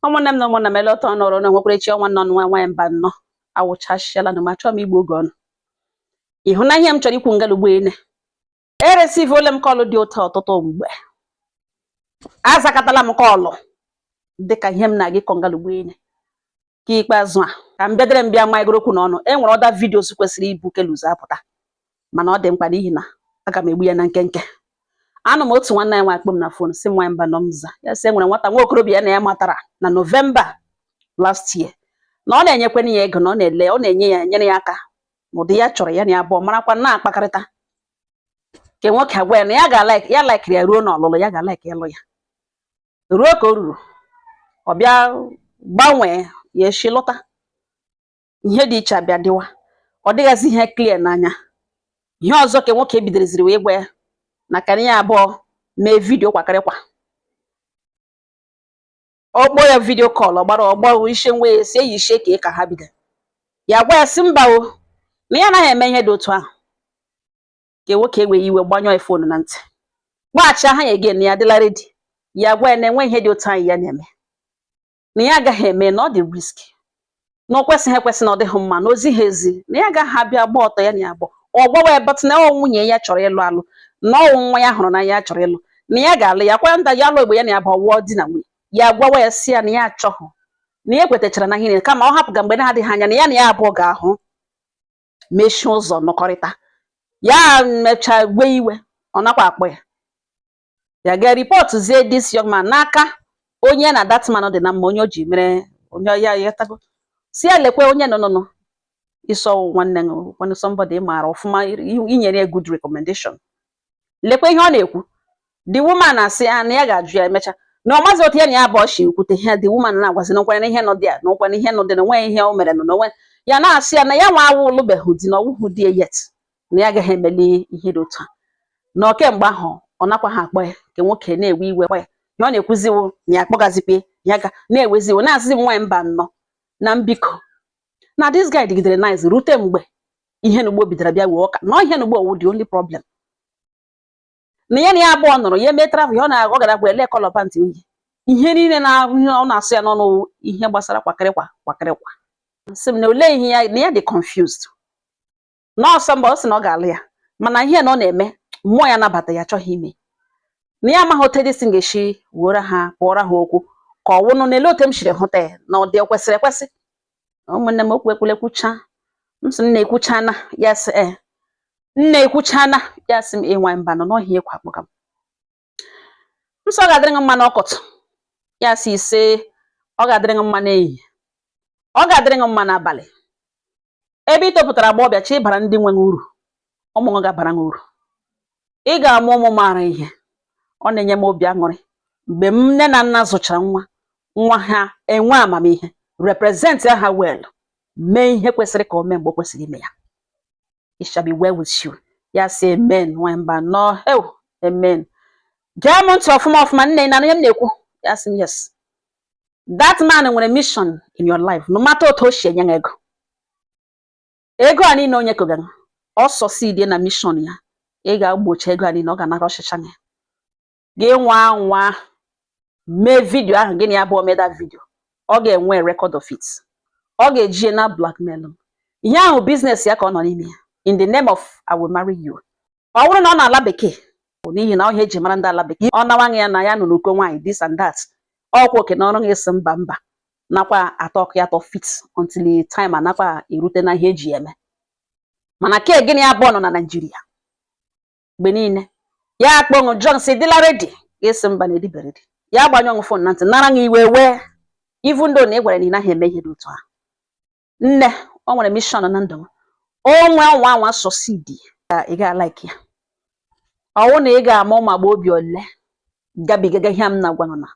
ụmụnne m na ụmụnna m ele otu unu ọrụ na-enwekwara echi ọnwa nọ nwa nwaanyị mbano awụchasịala na m achọọ m igbu oge unu ị hụ na ihe m chọrọ ikwu ngalugbo ene eresivuole m kọlụ dị otu a ọtụtụ mgbe azakatala m kọlụ dịka ihe m na-aga ịkọ ngalugbo ene ka ikpeazụ a ka m bịadere m bịa maịgoro okwu n'ọnụ e nwere other videos kwesịrị ibu nke a ụzọ apụta mana ọ dị mkpa n'ihi na aga m egbu ya na nkenke anọ m otu nwanne anyị nwa akpọọ m na fon sị nwaanyị mbano m za ya sị e nwere nwata nwa okorobịa ya na ya matara na novemba last year na ọ na-enyekwana ya ego na ọ na-ele ọ na-enye ya nyere ya aka n'ụdị ya chọrọ ya na ya abụọ marakwa na-akpakọrịta nke nwoke agwa ya na ya ga ya laikiri ya ruo n'ọlụlụ ya ga-alaiki ya lụ ya ruo ka o ruru ọ bịa gbanwee ya echi lọta ihe dị iche abịa dịwa ọ dịghịzi ihe clear n'anya ihe ọzọ ka nwoke bidoreziri wee gwa ya na ka ya abụọ mee vidio kwakịrịkwa ọ kpọọ ya vidio kọl ọ gbara ọgbọ ishe nwa ya si eyi ishe ka ka ha bido ya gwa ya sị mba o na ya anaghị eme ihe dị otu ahụ nke nwoke ewee iwe gbanyụọ ya fonu na ntị gbaghachi aha ya again ya adịla ready ya gwa ya na enwe ihe dị otu ahụ ya na-eme na ya agaghị eme na ọ dị risky na o kwesịghị ekwesị na ọ dịghị mma na o zihị ezi na ya agaghị abịa gba ọtọ ya na ya abụọ ọ gbawa ya but na ọ nwunye ya chọrọ ịlụ alụ na ọ wụ nwa ya hụrụ n'anya ya chọrọ ịlụ na ya ga-alụ ya kwa nda ya alụ igbo ya na ya abụọ awụọ di na nwunye ya gwawa ya sị ya na ya achọghị na ya ekwetachara na ihe niile kama ọ hapụga mgbe na-adịghị anya na ya na ya abụọ ga-ahụ mechie ụzọ nọkọrịta ya mechaa wee iwe ọ nakwa akpọ ya ya gaa ripọtụzie this young man n'aka onye na that man dị na mma onye o ji mere onye ya yatago sị ya lekwe onye nọ nọ ị sị ọ nwanne gị nwanne somebody ị maara ọfụma i nyere ya good recommendation lekwa ihe ọ na-ekwu the woman asị ya na ya ga-ajụ ya emecha na ọ mazi otu ya na ya abụọ shi kwute ihe the woman na-agwazi na nkwanye ihe nọ dị ya na nkwanye ihe nọ dị na o nweghị ihe o mere na onwe ya na-asị ya na ya nwa awụ alụbeghị di na ọ wụhụ di ya yet na ya agaghị emeli ihe dị otu a na kemgbe ahụ ọ nakwaha akpọ ya nke nwoke na-ewe iwe kwa ya na ọ na-ekwuziwo na ya akpọgazikwe ya ga na-eweziwo na-asịzi m nwaanyị mbano na biko na this guy dịgidere nice rute mgbe ihe na ugbo bidoro bịa wee ọka na ihe na ugbo ọ wụ the only problem na ya na ya abụọ nọrọ ya mee travel ya ọ na-ajụ ọ gara bụ ele kọlọ pantị o yi ihe niile na ọ na-asụ ya n'ọnụ wụ ihe gbasara kwakịrịkwa kwakịrịkwa sị m na olee ihe ya na ya dị confused na ọsọ mba ọ sị na ọ ga-alụ ya mana ihe na ọ na-eme mmụọ ya anabata ya achọghị ime na ya amaghị otu edisi ga-esi wuoro ha kpụọrọ ha okwu ka ọ wụnụ na ele otu m siri hụta ya na ọ dị o kwesịrị ekwesị ụmụnne m okwu ekwule kwucha m sị nna ekwuchana ya sị ee nna ekwuchana ya sị m nwaanyị Mbano n'ọhị ekwu akpọga m m sị ọ ga-adịrị gị mma n'ụtụtụ ya sị ise ọ ga-adịrị gị mma n'ehihie ọ ga-adịrị gị mma n'abalị ebe ị topụtara agaghị echi ị bara ndị nwe gị uru ụmụ gị ga-abara gị uru ị ga-amụ ụmụ maara ihe ọ na-enye m obi aṅụrị mgbe nne na nna zụchara nwa nwa ha enwe amamihe represent ha well mee ihe kwesịrị ka o mee mgbe o kwesịrị ime ya it shall be well with you ya sị amen nwanyị Mbano ew amen gee m ntị ọfụma ọfụma nne na ihe m na-ekwu ya sị m yes that man nwere mission in your life no matter otu o si enye ego ego a niile o nyekogara ọ succeedie na mission ya ị ga-agbọcha ego a niile ọ ga-anakọchicha ya gị nwaa anwa mee vidio ahụ gị na ya abụọ mee that vidio ọ ga-enwe record of it ọ ga-eji ya na-blackmail gị ihe a wụ business ya ka ọ nọ n'ime ya in the name of I will marry you ọ bụrụ na ọ nọ ala bekee bụ n'ihi na ọ ihe eji mara ndị ala bekee ọ na-agwa gị na ya nọ n'ụkọ nwaanyị this and that ọkwa oke na ọ wụrụ gị sị mba mba nakwa atọ ọkụ ya tọ fit until time anakwa erute na ihe eji eme mana ka gị na ya abụọ nọ na Naịjirịa mgbe niile ya akpọọ gị jụọ sị ị dịla ready gị asị mba na ị dịbeghị ready ya agbanyụọ fon na ntị nara gị iwe wee even though na ị gwara na ị naghị eme ihe dị otu ahụ nne o nwere mission na ndụ gị ọ nwaa anwa succeed ị ga-alike ya ọ wụ na ị ga-ama ụmụ agbọghọbịa ole gabigaga ihe m na-agwa ụnụ na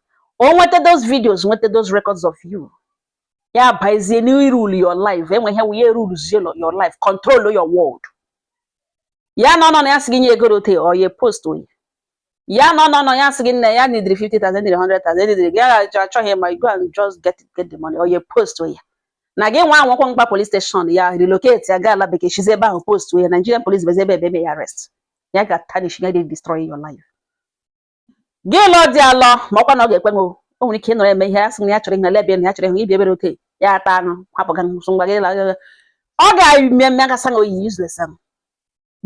o nweta those videos nweta those records of you ya bazie n'irule your life enwe ihe wụnye rulezie your life control your world ya nọ nọ nọ ya sị gị nye ego rute or ya postuo ya ya nọ nọ nọ ya sị gị nne ya needịrị 50,000 needịrị 100,000 needịrị gị ya achọ- achọghị ịma you go and just get it, get the money or ya post ya na gị nwaa anwakwa mkpa police station ya relocate ya gaa ala bekee sizie ebe ahụ post ya Nigerian police bezi ebe ebe eme ya arrest ya ga tarnish ya dey destroy your life gị lụọ di alụọ ma ọkwa na ọ ga-ekwe gị o o nwere ike ịnọrọ eme ihe ya sị na ya chọrọ ihe na lebia na ya chọrọ ihe ibi ebere oke ya ata anụ hapụ ga nsụ ngwa gị la ọ ga-eme eme gasị na oyi useless ahụ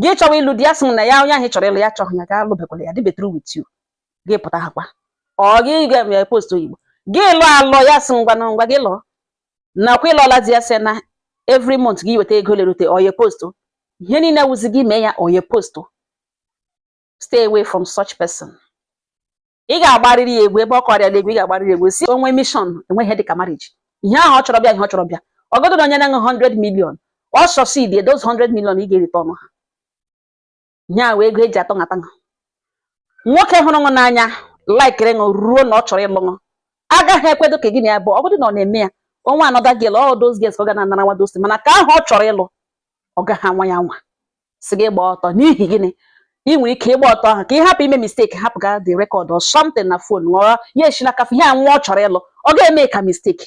gị chọwa ịlụ di ya sị na ya onye ahụ chọrọ ịlụ ya achọghị ya ga alụbekwala ya adịbeghị through with you gị pụta ha kwa ọ gị ga-eme post oyibo gị lụọ alụ ya sị ngwa na ngwa gị lụọ nakwa ịlụọla di ya sị na every month gị weta ego lerute or ya postuo ihe niile wụzi gị mee ya or ya postuo stay away from such person ị ga-agbarịrị ya egwu ebe ọ kọrịa egwu ị ga-agbarịrị egwu si onwe mission enweghị dịka marriage ihe ahụ ọ chọrọ bịa ihe ọ chọrọ bịa ọgọdụ na onye na-enwe 100 million ọ succeed those 100 million ị ga-erite ọnụ ha ihe ahụ ego eji atọ nhata nha nwoke hụrụ ṅụ n'anya laikiri ṅụ ruo na ọ chọrọ ịlụ ṅụ agaghị ekwedu ka gị na ya bụ ọgọdụ na ọ na-eme ya o nwe another girl all those girls ka ọ ga na-anara nwa those things mana nke ahụ ọ chọrọ ịlụ ọ gaghị anwa ya anwa sị gị gbaa ọtọ n'ihi gịnị ị nwere ike ịgba ọtọ ahụ ka ị hapụ ime mistake hapụ ga the record or something na phone ghọrọ ya esi n'aka ihe anwụ ọ chọrọ ịlụ ọ ga-eme ka mistake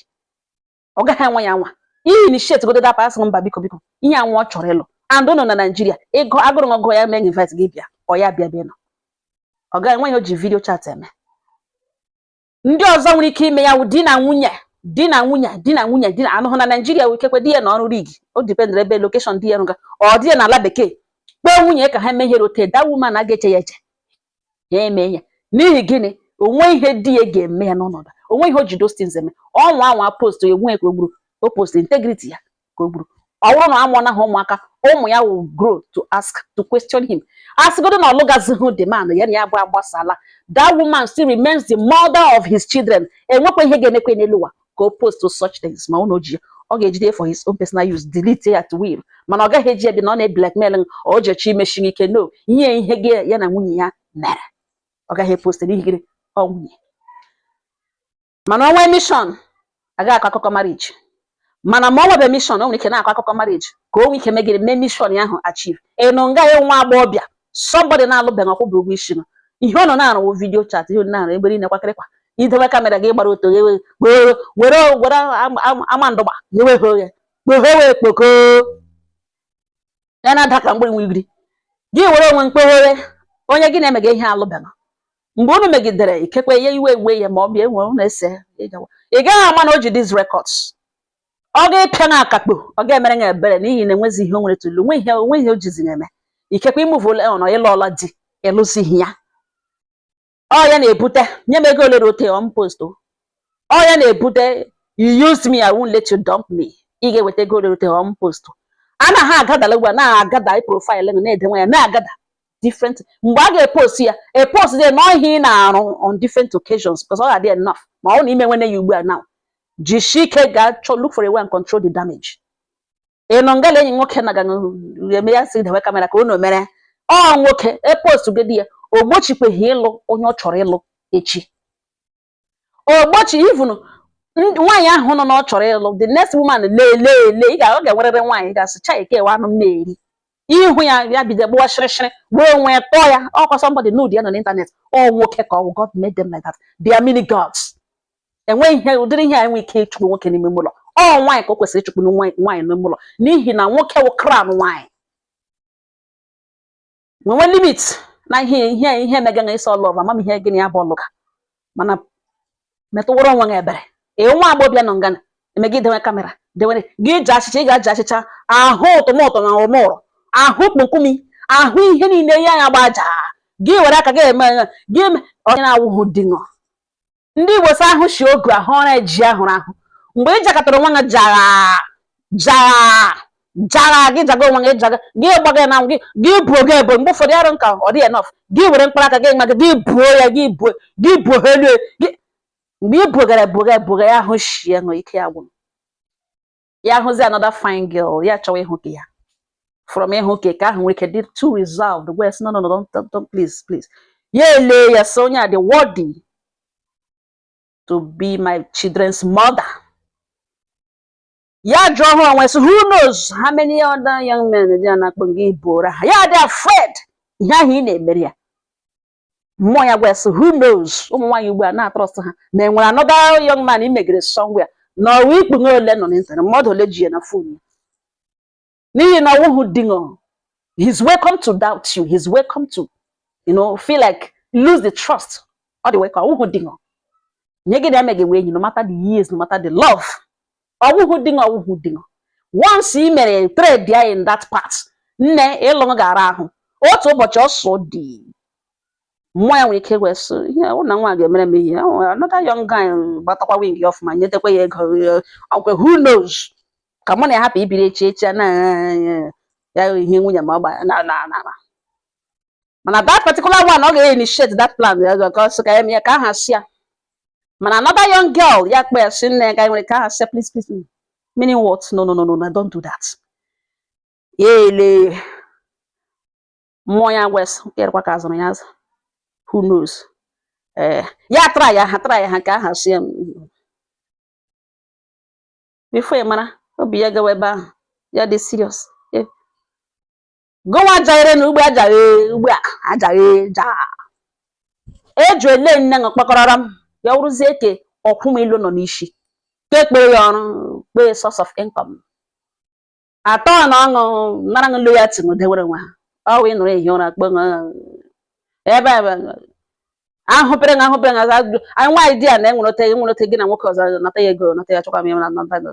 ọ gaghị anwa ya anwa ị initiate godu dapa asị mba biko biko ihe anwụ ọ chọrọ ịlụ and nọ na Nigeria ịgụ agụrụ ọgụ ya mee invite gị bịa or ya bịa ebe ị nọ ọ gaghị enwe ihe o ji video chat eme ndị ọzọ nwere ike ime ya wụ di na nwunye di na nwunye di na nwunye di na-anọhụ na Nigeria wụ ikekwe di ya nọ ọrụ rig o dependere ebe location di ya rụga or di ya nọ ala bekee kpọọ nwunye ka ha mee ihe ru ote that woman a ga-eche ya eche ya eme ya n'ihi gịnị o nwe ihe di ya ga-eme ya n'ọnọdụ o nwe ihe o ji those things eme ọ nwaa anwa post ya onwe ya ka o gburu o post integrity ya ka o gburu ọ bụrụ na amụọna ha ụmụaka ụmụ ya will grow to ask to question him a sịgodu na ọ lụgazighị the man ya na ya bụ agbasala that woman still remains the mother of his children enwekwa ihe ga-emekwa n'elu ụwa ka o post such things ma ụnụ ji ya ọ ga-ejide for his own personal use delete ya at will mana ọ gaghị eji ya bi na ọ na-eblackmail o jechi imechi ike no nye ihe gị ya na nwunye ya mere ọ gaghị epost n'ihi gịnị ọ nwunye mana o nwe mission agaghị akọ akụkọ marriage mana ma o nwebe mission o nwere ike na-akọ akụkọ marriage ka o nwee ike megide mee mission ya ahụ achieve ị nọ nga ya nwa agbọghọbịa somebody na-alụbeghị ọ kwụbeghị ụgwọ isi ṅụ ihe ụnụ na-arụ wụ video chat ihe ụnụ na-arụ ebe niile kwakịrịkwa ị dewe camera gị gbara ọtọ ghewe were were were ama ndụgba ghewe ha oghe kpoghe wee kpoko ya na-ada ka mgbịrị nwigiri gị were onwe mkpoghere onye gị na-emega ihe alụbeghị mgbe unu megidere ikekwe ya iwe ewee ya ma ọ bụ ya enwe unu ese ị gaghị ama na o ji these records ọ ga-epịa na akakpo ọ ga-emere ya ebere n'ihi na enwezi ihe o nwere to lose onwe ihe onwe ihe o jizi na-eme ikekwe ị moveọla on ị lụọla di ị lụzighị ya ọ ya na-ebute nye m ego ole ru ote or m post o. ọ ya na-ebute you used me I won't let you dump me ị ga-eweta ego ole ru ote or m post a na ha agatherla ugbu a na-agather profile gị na-edewe ya na-agather different mgbe a ga-epost ya epost ya na ihe ị na-arụ on different occasions because ọ ga-adị enough ma ọ na i menwene ya ugbu a now jishie ike gaa chọọ look for a way and control the damage ị nọ ngala enyi nwoke na ga eme ya sị dewe kamera ka unu mere ọ nwoke epost gị di ya o gbochikweghị ịlụ onye ọ chọrọ ịlụ echi o gbochi even nwaanyị ahụ nọ na ọ chọrọ ịlụ the next woman lee lee lee ị ga ọ ga-enwerịrị nwaanyị ga-asị cha eke ewe anụ m na-eri ihu ya ya bido gbuwa shịrịshịrị gbuo onwe ya tọọ ya ọkwa somebody nude ya nọ n'internet ọ nwoke ka ọ wụ God made them like that they are mini gods enweghị ihe ụdịrị ihe a enwe ike ịchụpụ nwoke n'ime ụlọ ọ nwaanyị ka o kwesịrị ịchụpụ nwaanyị n'ime ụlọ n'ihi na nwoke wụ crown nwaanyị nwenwe limit na ihe ihe ihe mega na ị sị ọ love amam ihe gịnị ya bụ ọlụ ka mana metụwara onwe gị ebere ee nwa agbọbịa nọ ngana eme gị dewe kamera dewere gị ji achịcha ị ga-aji achịcha ahụ ụtụmụtụ na ụmụrụ ahụ kpokumi ahụ ihe niile ihe anya gbaja gị were aka gị eme gị onye na-awụghị di ṅụ ndị igbo sị ahụ shi ogu ahụ ọra e ji ahụrụ ahụ mgbe ị jakọtara onwe gị jara jara jara gị jaga onwe gị jaga gị gbaga na gị gị buo gị ebo mgbe ụfọdụ arụ nka ọ dị enough gị were mkpara aka gị nwa gị gị buo ya gị buo gị buo ha elu gị mgbe ị bugara buga buga ya ahụ shie ṅụ ike ya gwụrụ ya hụzi another fine girl ya chọwa ịhook ya from ịhook nke ahụ nwere ike dị too reserved wee sị no no no don't, don't, don't please please ya ele ya sị onye a dị worthy to be my children's mother ya jụọ ha onwe sị who knows how many other young men dị na-akpọ gị bụrụ ha ya dị afraid ihe ahụ ị na-emere ya mmụọ ya gwa sị who knows ụmụ nwaanyị ugbu a na-atrust ha ma e nwere another young man i megere somewhere na ọwa ikpu ṅụ ole nọ n'internet mmadụ ole ji ya na phone ya n'ihi na ọ wụhụ di ṅụ he's welcome to doubt you he's welcome to you know feel like lose the trust ọ dị welcome ọ wụhụ di ṅụ onye gị na emeghị wee enyi no matter the years no matter the love ọ wụhụ di ṅụ ọ wụhụ di ṅụ once i mere trade ya in that part nne ịlụ ṅụ ga-ara ahụ otu ụbọchị ọsọ dị mmụọ ya nwere ike wee sị ihe ọ na nwa ga-emere m ihe ọ nwere another young guy gbatakwa win ya ọfụma nyetekwa ya ego eh, ọkwe who knows ka mụ na ya hapụ ibiri echi echi a na ya ihe nwunye ma ọ gba na na na na. mana that particular one ọ ga-initiate that plan ya ka ọ sị ka ya mee ya nke ahụ asị ya mana another young girl ya kpe ya sị nne ya ga nwere nke ahụ asị please please mm, meaning what no no no no no, don't do that ya ele mmụọ ya wee sị kerekwa ka a zụrụ ya azụ who knows ee ya try ya ha try ya ha nke ahụ asị ya mm. before ị mara obi ya gawa ebe ahụ ya dị serious gụnwa jaghere na ugbe ajaghe ugbe a ajaghe ja eju ele nne ṅụ kpakọrọrọ m ya wụrụzie ke ọkwụ m ilu nọ n'isi ka ekpere ya ọrụ kpee source of income atọ na ọṅụ nara ṅụ loyalty ṅụ dewere nwa ha ọ wụ ịnụrụ ehi ụra kpe ṅụ ebe ebe ahụpere ṅụ ahụpere ṅụ aza ajụjụ anyị nwaanyị di ya na enwere ote enwere ote gị na nwoke ọzọ nata ya ego nata ya chọkwa m ya na nata ego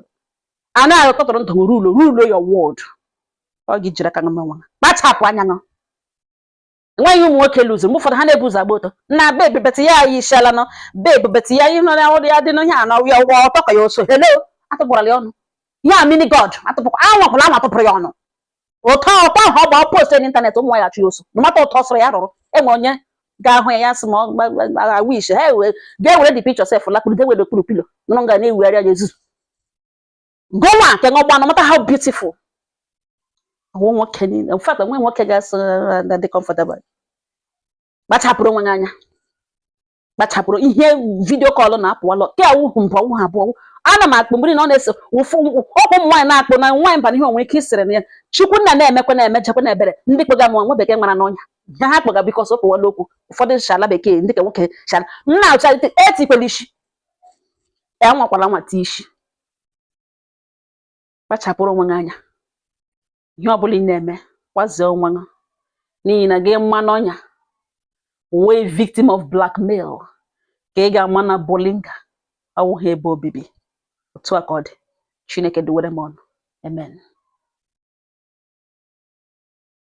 a na-akọtụrụ ndụ rule your world ọ gị jiri aka ṅụma nwa kpachapụ anya ṅụ nwaanyị ụmụ nwoke lụzi mgbe ụfọdụ ha na-ebu ụzọ agba ọtọ na bebi beti ya anyị isiala nọ bebi beti ya ihe nọrọ ọrụ ya dị n'ihe a na ya ụgwọ ọtọ ka ya oso hello atụpụrala ya ọnụ ya mini god atụpụkwa anwakwụla anwa atụpụrụ ya ọnụ ọtọ ahụ ọ gba post n'ịntanetị ụmụ ya chụ ya ọsọ mata ọtọ sọrọ ya rụrụ enwe onye ga-ahụ ya ya sị ma agha wish ha ga-ewere the picture sef lakpụrụ ga-ewere okpuru pillow nụrụ nga na-ewugharị ya ezuzu gụnwa nke ṅụgba no matter how beautiful ọwụ nwoke niile in fact onwe nwoke ga-asị na dị comfortable kpachapụrụ onwe gị anya kpachapụrụ ihe video call na-apụwalọ ke awụhụ mbụ ọwụhụ abụọ ana m akpụ mgbiri na ọ na-ese ụfụ ọkwụ ụmụ nwaanyị na-akpụ na nwaanyị mba na ihe onwe ike isere na ya chukwu nna na-emekwa na-emechekwa na ebere ndị kpega m nwa bekee mara n'ọnya ya ha kpega biko so kpụwala okwu ụfọdụ shala bekee ndị ka nwoke shala m na-achọlite etikwela isi ya nwakwala nwa ti isi kpachapụrụ onwe gị anya ihe ọbụla ị na-eme kwazie onwe gị n'ihi na gị maa n'ọnya wee victim of blackmail ka ị ga-ama na bolinga awụghị ebe obibi otu a ka ọ dị chineke duwere m ụnụ amen